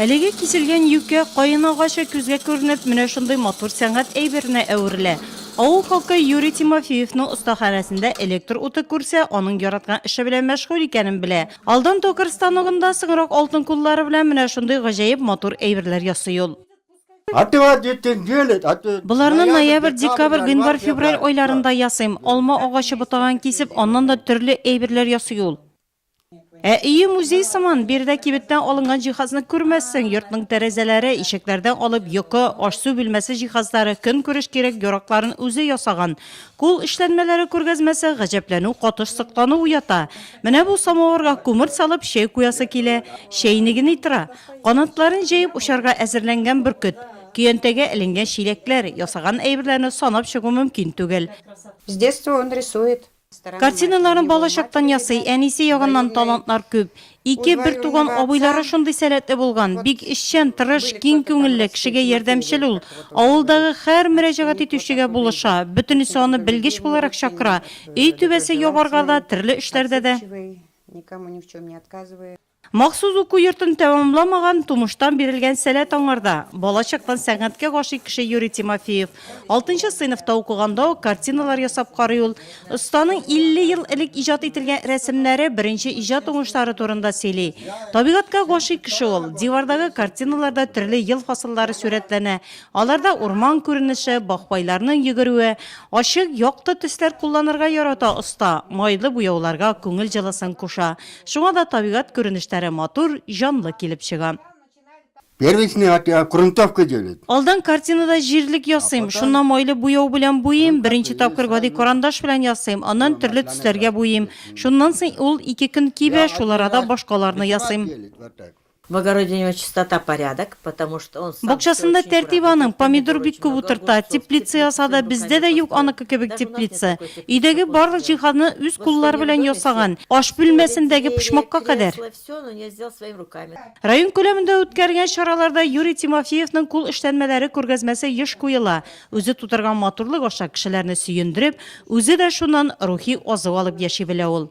Әлеге киселгән юкә каен агачы күзгә күренеп, менә шундый матур сәнгать әйберенә әверелә. Авыл халкы Юрий Тимофеевның остаханәсендә электр уты күрсә, аның яраткан эше белән мәшгуль икәнен белә. Алдан токарь станогында, соңрак алтын куллары белән менә шундый гаҗәеп матур әйберләр ясый ул. Боларны ноябрь, декабрь, гыйнвар, февраль айларында ясыйм. Алма агачы ботагын кисеп, аннан да төрле әйберләр ясый ул. Ә өе музей сыман, биредә кибеттән алынган җиһазны күрмәссең, йортның тәрәзәләре, ишекләрдән алып йокы, аш-су бүлмәсе җиһазлары, көнкүреш кирәк-яракларын үзе ясаган. Кул эшләнмәләре күргәзмәсе гаҗәпләнү катыш соклану уята. Менә бу самавырга күмер салып чәй куясы килә, чәйнегени тора. Канатларын җәеп очарга әзерләнгән бөркет. Көянтәгә эленгән чиләкләр, ясаган әйберләрне санап чыгу мөмкин түгел. С детства он рисует. Картиналарын балачактан ясый, әнисе ягыннан талантлар күп. Ике бертуган абыйлары шундый сәләтле булган. Бик эшчән, тырыш, киң күңелле, кешегә ярдәмчел ул. Авылдагы һәр мөрәҗәгать итүчегә булыша, бөтенесе аны белгеч буларак чакыра. Өй түбәсе ябарга да, төрле эшләрдә дә. Махсус уку йортын тәмамламаган, тумыштан бирелгән сәләт аңарда. Бала чактан сәнгатькә гашыйк кеше Юрий Тимофеев. Алтынчы сыйныфта укыганда ук картиналар ясап карый ул. Останың 50 ел элек иҗат ителгән рәсемнәре, беренче иҗат уңышлары турында сөйли. Табигатькә гашыйк кеше ул. Дивардагы картиналарда төрле ел фасыллары сурәтләнә. Аларда урман күренеше, бакбайларның йөгерүе. Ачык, якты төсләр кулланырга ярата оста, майлы буяуларга күңел җылысын куша. Шуңа да табигать күренештәре матур, җанлы килеп чыга. Первичный ат я грунтовка делать. Алдан картинада җирлек ясыйм, шуннан майлы буяу белән буйыйм, беренче тапкыр гади карандаш белән ясыйм, аннан төрле төсләргә буйыйм. Шуннан соң ул ике көн кибә, шул арада башкаларны ясыйм. В огороде у него чистота, порядок, потому что он сам всё очень аккуратно делает. Бакчасында тәртип аның, помидор бик күп утырта, теплица ясады, бездә дә юк аныкы кебек теплица. Өйдәге барлык җиһазны үз куллары белән ясаган, аш бүлмәсендәге почмакка кадәр. Район күләмендә үткәрелгән чараларда Юрий Тимофеевның кул эшләнмәләре күргәзмәсе еш куела, үзе тудырган матурлык аша кешеләрне сөендереп, үзе дә шуннан рухи азык алып яши белә ул.